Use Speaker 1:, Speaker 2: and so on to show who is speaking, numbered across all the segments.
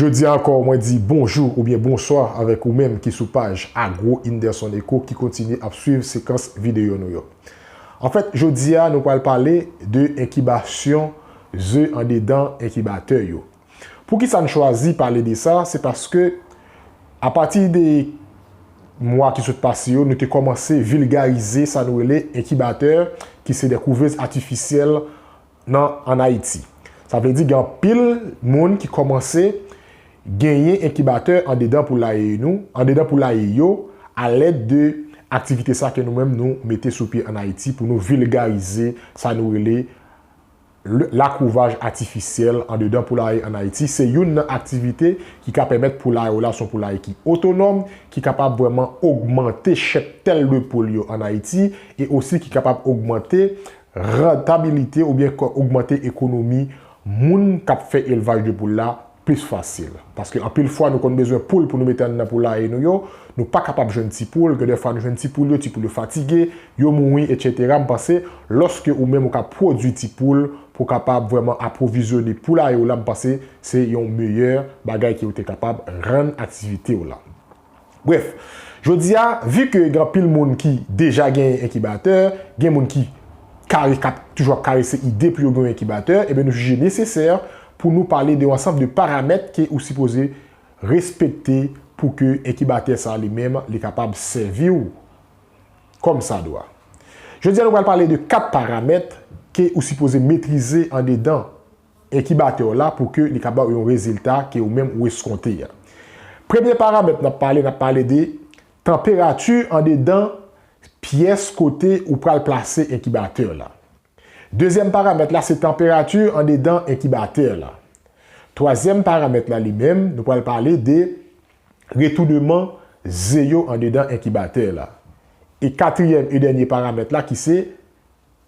Speaker 1: Jodi a ankò mwen di bonjou oubyen bonswa avèk ou menm ki sou paj Agro Inderson Eco ki kontinye ap swiv sekans videyo nou yo. Anfèt jodi a nou pral pale de enkibasyon ze andedan enkibatè yo. Pou ki sa n chwazi pale de sa, se paske a pati de mwa ki sot pase yo nou te kòmanse vilgarize sa nou rele enkibatè ki se de kouvez atifisyèl nan an Ayiti. Sa vle di gen anpil moun ki kòmanse genyen enkibatè andedan poulaye nou, andedan poulaye yo a lèd de aktivite sa ke nou menm nou mete sou pye an Ayiti pou nou vilgarize sa nou rele. Lakouvaj atifisyèl andedan poulaye an Ayiti se youn nan aktivite ki ka pèmèt poulaye w la son poulaye ki otonòm, ki kapab vrèman ogmante cheptèl de poul yo an Ayiti e osi ki kapab ogmante rantabilite oubyen ogmante ekonomi moun k ap fè elvaj de poul la plis fasil. Paske anpil fwa nou konn bezwen poul pou nou mete anndan poulaye nou yo, nou pa kapab jwenn ti poul, gen de fwa nou jwenn ti poul yo, ti poul yo fatige, yo mouri etc. M panse lòske ou menm ou ka pwodwi ti poul pou w kapab vrèman apwovizyone poulaye w la m panse se yon meyè bagay ke ou te kapab rann aktivite w lan. Brèf, jodi a, vi ke gen anpil moun ki deja genyen enkibatè, gen moun ki kare k ap toujou ap karese ide pou yo gen yon enkibatè, enben nou jije nesesè pou nou pale de yon ansanm de paramèt ke ou sipoze respekte pou ke enkibatè sa a li menm li kapab sèvi ou kòm sa dwa. Jodi a nou pral pale de 4 paramèt ke ou sipoze metrize andedan. enkibatè w la pou ke li ka ba w yon rezilta ke ou menm ou eskonte a. Premye paramèt n ap pale, n ap pale de tanperati andedan pyès kote ou pral plase enkibatè w la. Dezyèm paramèt la se tanperati andedan enkibatè w la. Twazyèm paramèt la li menm, nou pral pale de retouneman ze yo andedan enkibatè w la. E katriyèm e dènye paramèt la ki se.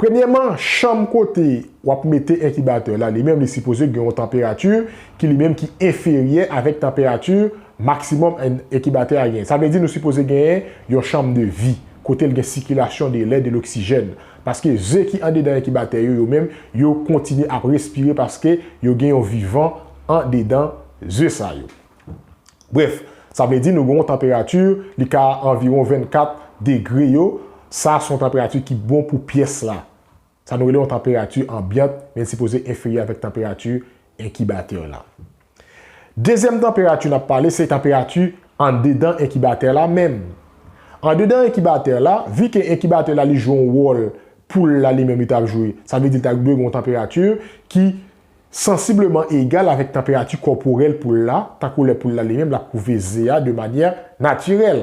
Speaker 1: Premyèman, chanm kote w ap mete enkibatè la li menm li sipoze gen yon tanperati ki li menm ki enferyè avèk tanperati maksimòm enkibatè a genyen. Sa vle di nou sipoze genyen yon chanm de vi, kote l gen sikilasyon de lè, de loksijèn. Paske ze ki andedan enkibatè yo, yo menm, yo kontinye ap respire paske yo gen yon vivan andedan ze sa yo. Brèf, sa vle di nou gen yon tanperati li ka anviwon 24 degre yo, sa se yon tanperati ki bon pou pyès la. Sa nou rele yon tanperati anbyant men li sipoze enferyè avèk tanperati enkibatè la. Dezyèm tanperati n ap pale se tanperati andedan enkibatè la menm. Andedan enkibatè la, vi ke enkibatè la li jwe yon wòl poul la li menm li ta jwe, sa vle di li ta dwe gen yon tanperati ki. sansibleman egal avèk tanperati kòporèl poul la, tankou lè poul la li menm l ap kouve ze a de manyè natirèl.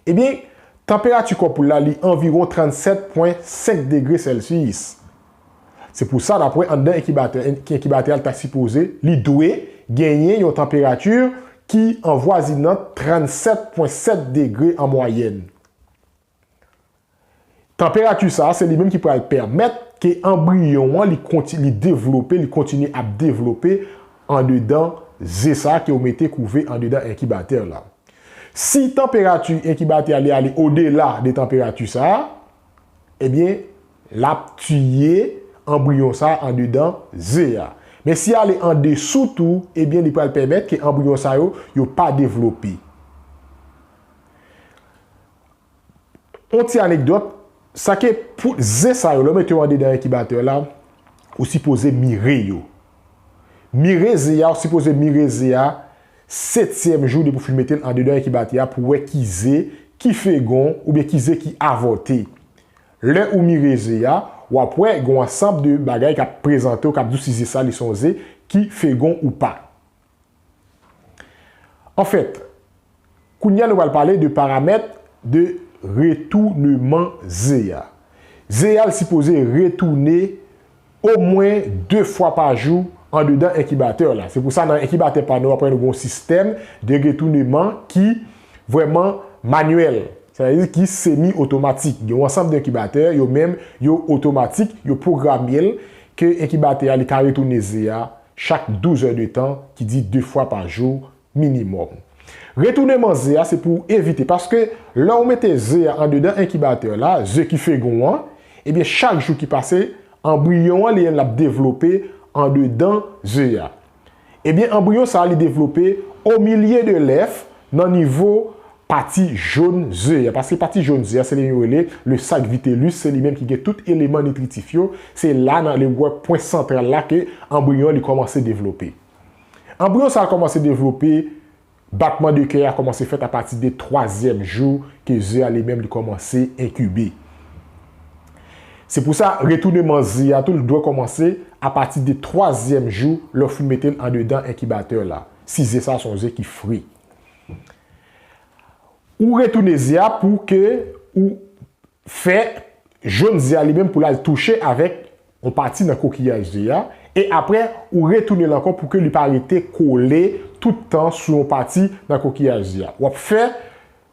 Speaker 1: Ebyen, tanperati kò poul la li anviwon 37 pwen 5 degre sèlsiyis. Se pou sa n ap wè anndan enkibatè, enkibatè a li ta sipoze, li dwe, genyen yon tanperati ki anvwazinant 37 pwen 7 degre an mwayèn. Tanperati sa a se li menm ki pral pèmèt ke anbriyon an li konti li devlope, li kontinye ap devlope andedan ze sa a ke ou mete kouve andedan enkibatè la. Si tanperati enkibatè a li ale odela de tanperati sa a, ebyen l ap tiye anbriyon sa a andedan ze a. Men si ale andesou tou, ebyen li pral pèmèt ke anbriyon sa yo, yo pa devlope. On ti anekdòt, sa ke pou zen sa yo, lè w mete yo andedan enkibatè la, ou sipoze mire yo. Mire ze a, ou sipoze mire ze a setyèm jou depi w fin mete l andedan enkibatè a pou w wè ki ze ki fegon oubyen ki ze ki avòte. Lè ou mire ze a, w ap wè gen w ansanb de bagay k ap prezante w k ap di w si ze sa li se yon ze ki fegon ou pa. Anfèt, kounye a nou pral pale de paramèt de retouneman ze a. Ze a sipoze retoune omwen 2 fwa pa jou andedan enkibatè la. Se pou sa nan enkibatè pa nou apre nou gen yon sistèm de retouneman ki vrèman manyèl. Sa vle di ki semi otomatik. Gen yon ansanm de enkibatè, yo menm yo otomatik, yo pwogramel ke enkibatè a li ka retoune ze a Chak 12 è de tan, ki di 2 fwa pa jou minimòm. Retounen man ze a se pou ou evite paske lè ou mete ze a andedan enkibatè la, ze ki fegon an, ebyen chak jou ki pase anbriyon an li menm lap devlope andedan ze a. Ebyen anbriyon sa li devlope omilye de lèf nan nivo Pati jòn ze a. Paske pati jòn ze a se li yo rele le sac vitellus, se li menm ki gen tout eleman nitritif yo, se la nan le wè pwen santral la ke anbriyon an li kòmanse devlope. Anbriyon sa a kòmanse devlope, batman de kè a kòmanse fèt a pati de twazyèm jou ke ze a li menm li kòmanse enkibe. Se pou sa retouneman ze a tou li dwe kòmanse a pati de twazyèm jou lè ou fin mete l andedan enkibatè la, si ze sa a se yon ze ki fri. Ou retounen ze a pou ke ou fè jonn ze a li menm pou lal touche avèk yon pati nan kokiyaj ze a e aprè ou retounen l ankò pou ke li pa rete kole tout tan sou yon pati nan kokiyaj ze a. Wap fè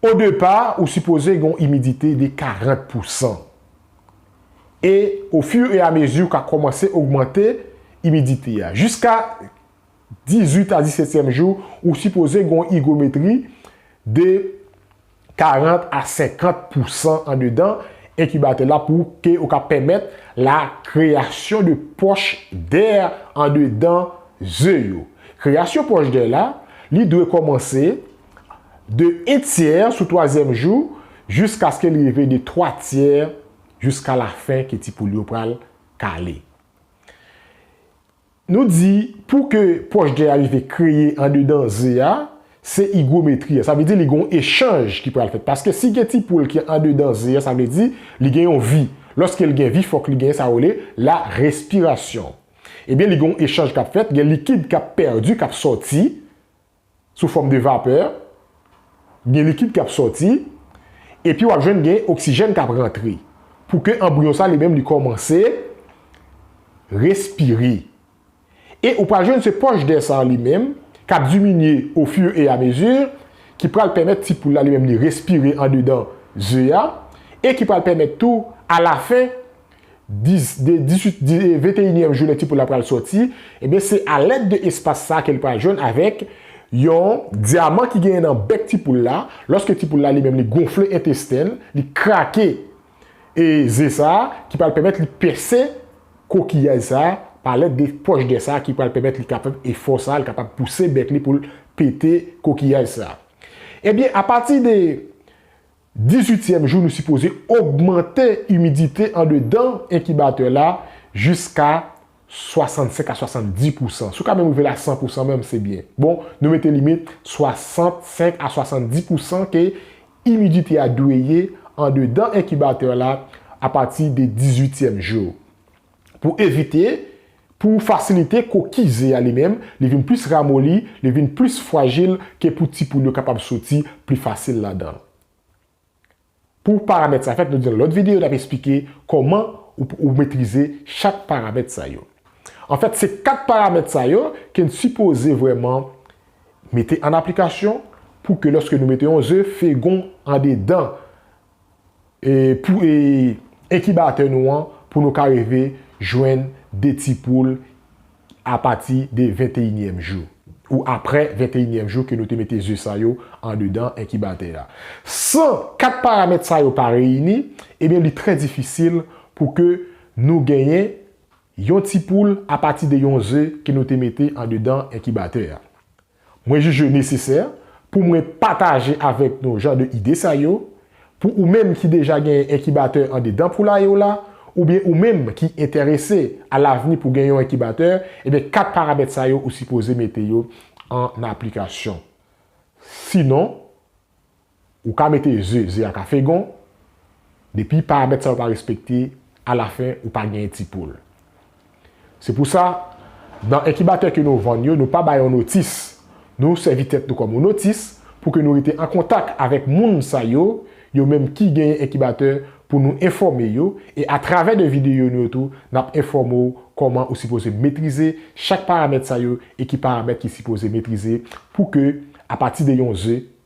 Speaker 1: O depa ou sipoze gen yon imidite de 40 pou san. E o fur e a mezi ou ka komanse ogmante imidite a. Jiska 18 a 17 tièm jou ou sipoze gen yon igometri de 40 a 50 pou san andedan enkibatè la pou ke ou ka pèmèt la kreyasyon de poch dè andedan ze yo. Kreyasyon pòch dèy la, li dwe kòmanse de en tyè sou twazyèm jou jiskaske li rive de twa tyè jiska lafen ke ti poul yo pral kale. Nou di pou ke pòch dèy a rive kreye andedan ze a, se igwometri a. Sa vle di li gen yon echanj ki pral fèt. Paske si gen ti poul ki andedan ze a, sa vle di li gen yon vi. Lòske li gen vi, fòk li gen sa yo rele la respirasyon. Ebyen li gen yon echanj kap fèt, gen likid kap pèdi, kap sòti sou fòm de vapè, gen likid kap sòti, epi wap jwenn gen oksijèn kap rantre pou ke anbriyon sa li menm li kòmanse respire. E ou pral jwenn se pòch dè sa li menm kap diminye o fur e a mesure ki pral pèmèt ti poul la li menm li respire andedan ze a e ki pral pèmèt tou a la fen 10 de 18 di 21 nyèm jounen ti poul la pral sòti ebyen se alèd de espas sa kel pral jwenn avèk yon dyaman ki genyen nan bèk ti poul la lòske ti poul la li menm li gonfle entestenl li krake e ze sa ki pral pèmèt li pèse kokiyaj sa pa lèd de pòch dè sa ki pral pèmèt li kapab efò sa li kapab pouse bèk li poul pete kokiyaj sa ebyen apati de Dizuityèm jou nou sipoze ogmante imidite andedan enkibatè la jiska 65 a 70 pousan. Si w ka menm rive la 100 pousan menm se byen. Bon, nou mete limit 65 a 70 pousan ke imidite a dwe ye andedan enkibatè la apati de dizuityèm jou. pou evite, pou fasilite kokiy ze a li menm, li vin plis ramoli, li vin plis fwajil ke pou ti poul yo kapab soti pli fasil ladan l. Pou paramèt sa fèt, nou di nan lòt videyo n ap esplike kòman ou metrize chak paramèt sa yo. Anfèt, se 4 paramèt sa yo ke n sipoze vrèman mete an aplikasyon pou ke lòske nou mete yon ze, fegon andedan pou enkibatè nou an pou nou ka rive jwenn 2 ti poul apati de 21 nyèm jou ou aprè 21 nyèm jou ke nou te mete ze sa yo andedan enkibatè a. San 4 paramèt sa yo pa reyini, ebyen li trè difisil pou ke nou genyen yon ti poul apati de yon ze ke nou te mete andedan enkibatè a. Mwen jije l nesesè pou mwen pataje avèk nou jan de ide sa yo. Pou ou menm ki deja genyen enkibatè andedan poulaye w la, oubyen ou menm ki enterese a lavni pou gen yon enkibatè, ebyen 4 paramèt sa yo ou sipoze mete yo an aplikasyon. Sinon, Ou ka mete ze, ze a ka fegon, depi paramèt sa yo pa respekte, alafen ou pa genyen ti poul. Se pou sa, nan enkibatè ke nou vann yo, nou pa bay yon notis. Nou sèvi tèt nou kòm yon notis pou ke nou rete an kontak avèk moun sa yo, yo menm ki genyen enkibatè pou nou enfòme yo, e atravè de videyo nou yo tou, n ap enfòme w kòman ou sipoze metrize chak paramèt sa yo e ki paramèt ki sipoze metrize pou ke apati de yon ze,